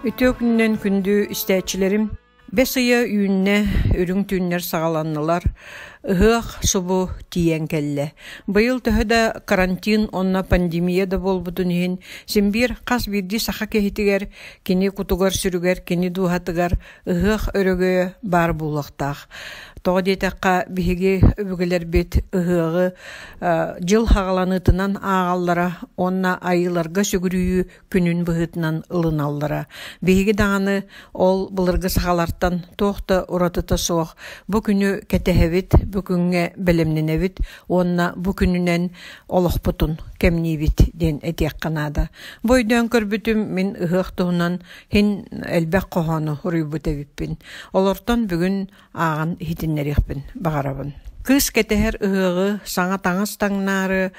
Үтүө күннэн күндү истээччилэрим, бэс ыйа үүннэ, үрүҥ түүннэр саҕаланнылар, ыһыах субу тиийэн кэллэ. Быйыл төһө да карантин онно пандемия да буолбутун иһин, син биир хас биирдии саха киһитигэр Кини кутугар-сүрүгэр, кини дууһатыгар ыһыах өрөгөйө баар буолуохтаах. Тоҕо диэтэххэ, биһиги өбүгэлэрбит ыһыаҕы дьыл хаҕаланыытынан ааҕаллара уонна айыыларга сүгүрүйүү күнүн быһыытынан ылыналлара. Биһиги даҕаны ол былыргы сахалартан туох да уратыта суох бу күнү кэтэһэбит, бу күҥҥэ бэлэмнэнэбит, уонна бу күнүнэн олохпутун кэмниибит диэн этиэххэ наада. Бу өйдөөн көрбүтүм мин ыһыах туһунан һин элбэх хоһоону уруйбут эбиппин. Олортон бүгүн ааҕан иһитиннэриэхпин баҕарабын. Кыыс кэтэһэр ыһыаҕы саҥа таҥас таҥнаары,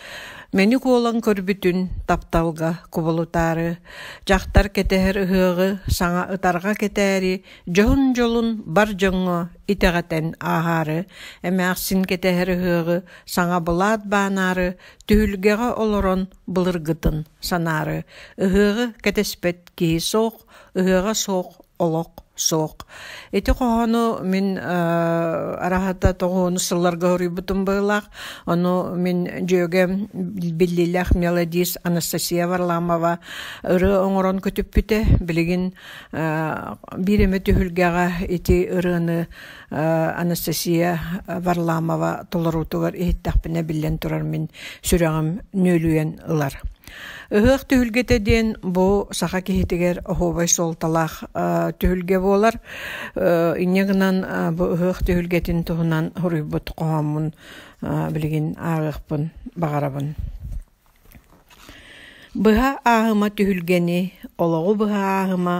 мэник уолан көрбүтүн тапталга кубулутаары, дьахтар кэтэһэр ыһыаҕы саҥа ытарҕа кэтээри Дьоһун-дьолун бар дьоҥҥо итэҕэтэн ааһаары, эмээхсин кэтэһэр ыһыаҕы саҥа былаат баанаары, түһүлгэҕэ олорон былыргытын санаары, ыһыаҕы кэтэспэт киһи суох, ыһыаҕа суох олох суох. Ити хоһоону мин араһата тоҕуону сылларга хоруйбутум быылаах, ону мин дьүөгэм биллиилээх мелодист Анастасия Варламова ыры оҥорон көтүппүтэ, билигин Биир эмэ түһүлгэҕэ ити ырыаны Анастасия Варламова толоруутугар иһиттэхпинэ биллэн турар мин сүрэҕим нүөлүйэн ылар. Ыһыах түһүлгэтэ диэн бу саха киһитигэр оһуобай суолталаах түһүлгэ буолар. Инньэ гынан бу ыһыах түһүлгэтин туһунан хоруйбут хоһооммун билигин ааҕыахпын баҕарабын. Быһа ааһыма түһүлгэни, олоҕу быһа ааһыма,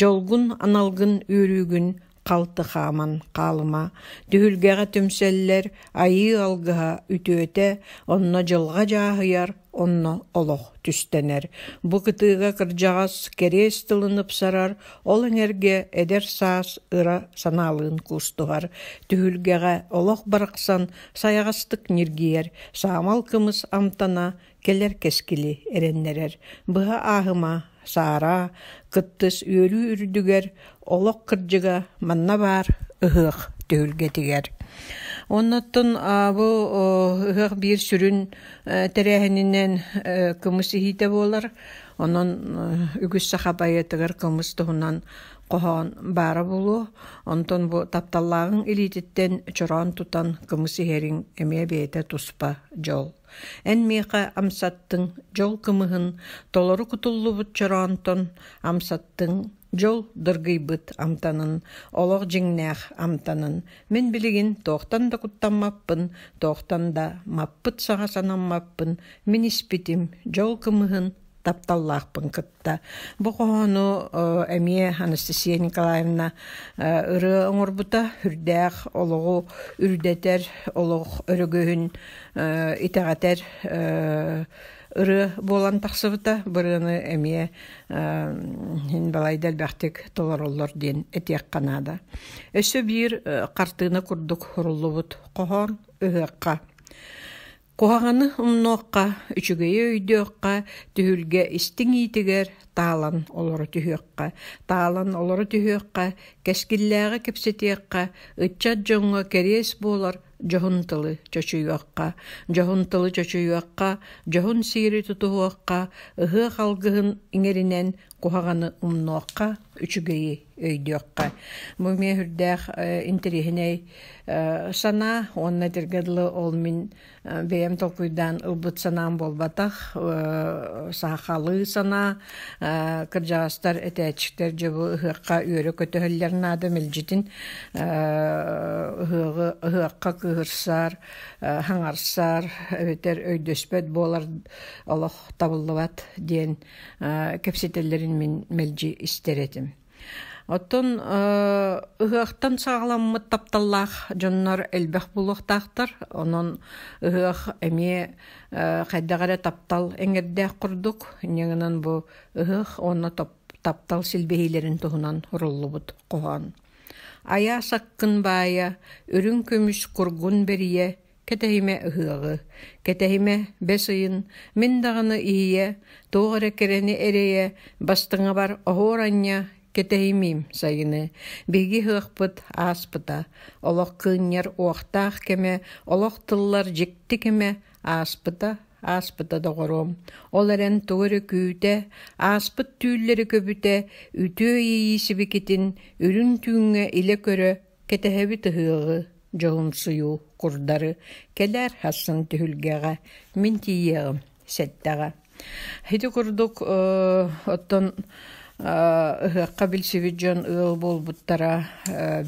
дьолгун, аналгын, үөрүүгүн халты хааман хаалыма, түһүлгэҕэ түмсэллэр, айыы алгыһа үтүөтэ, онно дьылҕа дьааһыйар, онно олох түстэнэр. Бу кытыыга кырдьаҕас кэриэс тылын ыпсарар, ол эҥэргэ эдэр саас ыра санаалыын куустуһар. Түһүлгэҕэ олох барахсан Сайаҕастык ньиргийэр, саамал кымыс амтана кэлэр кэскили эрэннэрэр. Быһа ааһыма, саараа, кыттыс үөрүү үрдүгэр, олох кырдьыга манна баар ыһыах түһүлгэтигэр. Оннуттан бу ыһыах биир сүрүн тэрээһининэн кымыс иһиитэ буолар. Онон үгүс саха байытыгар кымыс туһунан хоһоон баара булуо, онтон бу тапталлааҕыҥ илиититтэн чороон тутан кымыс иһэриҥ эмиэ бэйэтэ туспа дьол. Эн миэхэ амсаттыҥ дьол кымыһын толору кутуллубут чороонтон амсаттыҥ дьол дыргыйбыт амтанын олох дьиҥнээх амтанын мин билигин тоохтан да куттаммаппын тоохтан да маппыт саҕа санаммаппын мин испитим дьол кымыһын тапталлаахпын кытта Та бу хоһоону эмиэ Анастасия Николаевна ырыа оҥорбута үрдээх олоҕу үрдэтэр олох өрөгөһүн итэҕэтэр ырыа буолан тахсыбыта бырыаны эмиэ һин балайда элбэхтик толороллор диэн этиэххэ наада өссө биир хартыына курдук хуруллубут хоһоон ыһыахха Куһаҕаны умнуохха, үчүгэйи өйдүөххэ, түһүлгэ истиҥ иитигэр таалан олоро түһүөххэ, таалан олоро түһүөххэ, кэскиллээҕи кэпсэтиэххэ, ыччат дьоҥҥо кэриэс буолар дьоһун тылы чочуйуохха, дьоһун тылы чочуйуохха, дьоһун сиэри тутуһуохха, ыһыах алгыһын иҥэринэн куһаҕаны умнуохха, үчүгэйи өйдүөххэ. Бу эмиэ үрдээх интэриэһинэй санаа уонна тиргэ дылы ол мин бэйэм толкуйдаан ылбыт санаам буолбатах саахалыы санаа кырдьаҕастар этээччиктэр дьобу ыһыахха үөрө көтөһөллөр наада мэлдьитин ыһыахха кыыһырсар хаҥарсар эбэтэр өйдөспөт буолар олох табыллыбат диэн кэпсэтэллэрин мин мэлдьи истэр этим. Оттон ыһыахтан саҕаламмыт тапталлаах дьоннор элбэх булуохтаахтар. Онон ыһыах эмиэ хайдах эрэ таптал эҥэрдээх курдук. Ньыгынан бу ыһыах онно таптал силбэһиилэрин туһунан уруллубут хоһоон. Айаа саккын баайа, үрүҥ көмүс кургун бэрийэ, Кэтэһимэ ыһыаҕы. Кэтэһимэ бэс ыйын мин даҕаны иһийэ, туох эрэ кэрэни эрэйэ, бастыҥабар оһуоранньа кэтэһимиим сайыны. Биһиги ыһыахпыт ааспыта. Олох кыынньар уохтаах кэмэ, олох тыллар дьикти кэмэ ааспыта, ааспыта доҕоруом. Ол эрэн тугу эрэ күүтэ, ааспыт түүллэри көбүтэ, үтүө иэйии сибикитин үрүҥ түүҥҥэ илэ көрө Кэтэһэбит ыһыаҕы, дьоһумсуйуу, курдары, кэлээр хассан түһүлгэҕэ, мин тиийиэҕим сэттэҕэ. Ити курдук оттон ыһыахха билсибит дьон ыал буолбуттара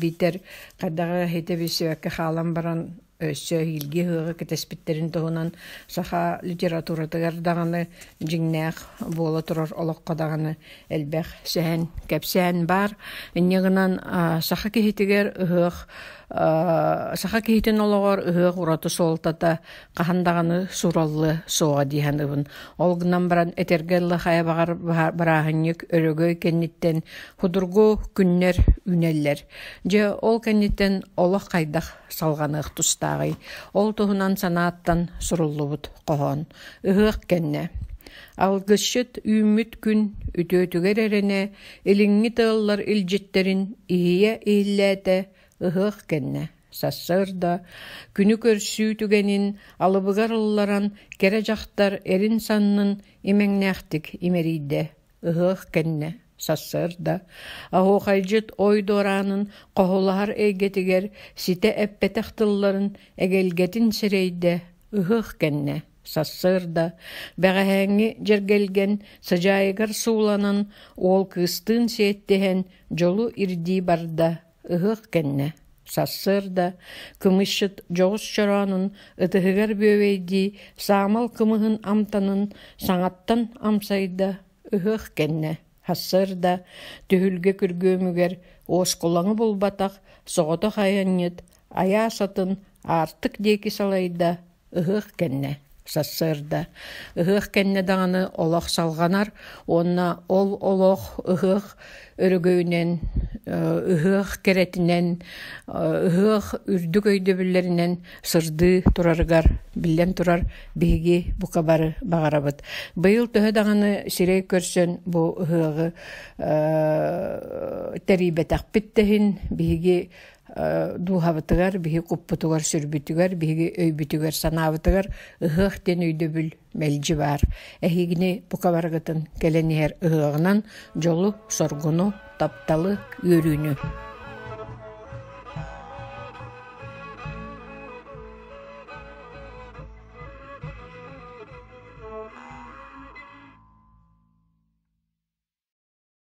биитэр хайдаҕа итэбиссибэккэ хаалан баран өссө эһиилги ыһыаҕы кэтэспиттэрин туһунан саха литературатыгар даҕаны дьиҥнээх буола турар олоххо даҕаны элбэх сэһэн кэпсээн баар инньэ гынан саха киһитигэр ыһыах саха киһитин олоҕор ыһыах ураты суолтата хаһан даҕаны сураллыа суоҕа дии саныыбын ол гынан баран этэргэ ылла хайабаҕар бырааһынньык өрөгөй кэнниттэн судургу күннэр үүнэллэр дьэ ол кэнниттэн олох хайдах салҕаныах тустааҕый. Ол туһунан санааттан суруллубут хоһоон. Ыһыах кэннэ Алгысчыт үүммүт күн үтүөтүгэр эрэнэ илиҥҥи тыаллар илдьиттэрин иһийэ иһиллээтэ ыһыах кэннэ сарсыарда күнү көрсүү түгэнин алыбыгар ылларан кэрэ дьахтар эрин саннын имэҥнээхтик имэрийдэ Ыһыах кэннэ сарсыарда оһуохайдьыт ойдуораанын хоһулаһар эйгэтигэр ситэ эппэтэх тылларын эгэлгэтин сирэйдэ ыһыах кэннэ сарсыарда бэҕэһээҥҥи дьэргэлгэн сыдьаайыгар сууланан уол кыыстыын сиэттэһэн дьолу ирдии барда Ыһыах кэннэ сарсыарда кымысчыт дьоҕус чороонун ытыһыгар бүөбэйдии саамал кымыһын амтанын саҥаттан амсайда ыһыах кэннэ сарсыарда түһүлгэ күргүөмүгэр уоскулаҥы булбатах соҕотох айанньыт айаас атын аартык диэки салайда Ыһыах кэннэ сарсыарда ыһыах кэннэ даҕаны олох салҕанар уонна ол олох ыһыах өрөгөйүнэн ыһыах кэрэтинэн ыһыах үрдүк өйдөбүллэринэн сырдыы турарыгар биллэн турар биһиги бука бары баҕарабыт быйыл төһө даҕаны сирэй көрсөн бу ыһыаҕы тэрийбэтэхпит тэһин биһиги дууһабытыгар, биһи куппутугар, сүрбүтүгэр, биһиги өйбүтүгэр, санаабытыгар ыһыах диэн өйдөбүл мэлдьи баар. Эһигини бука барыгытын кэлэн иһэр ыһыаҕынан дьолу, соргуну, тапталы, үөрүүнү.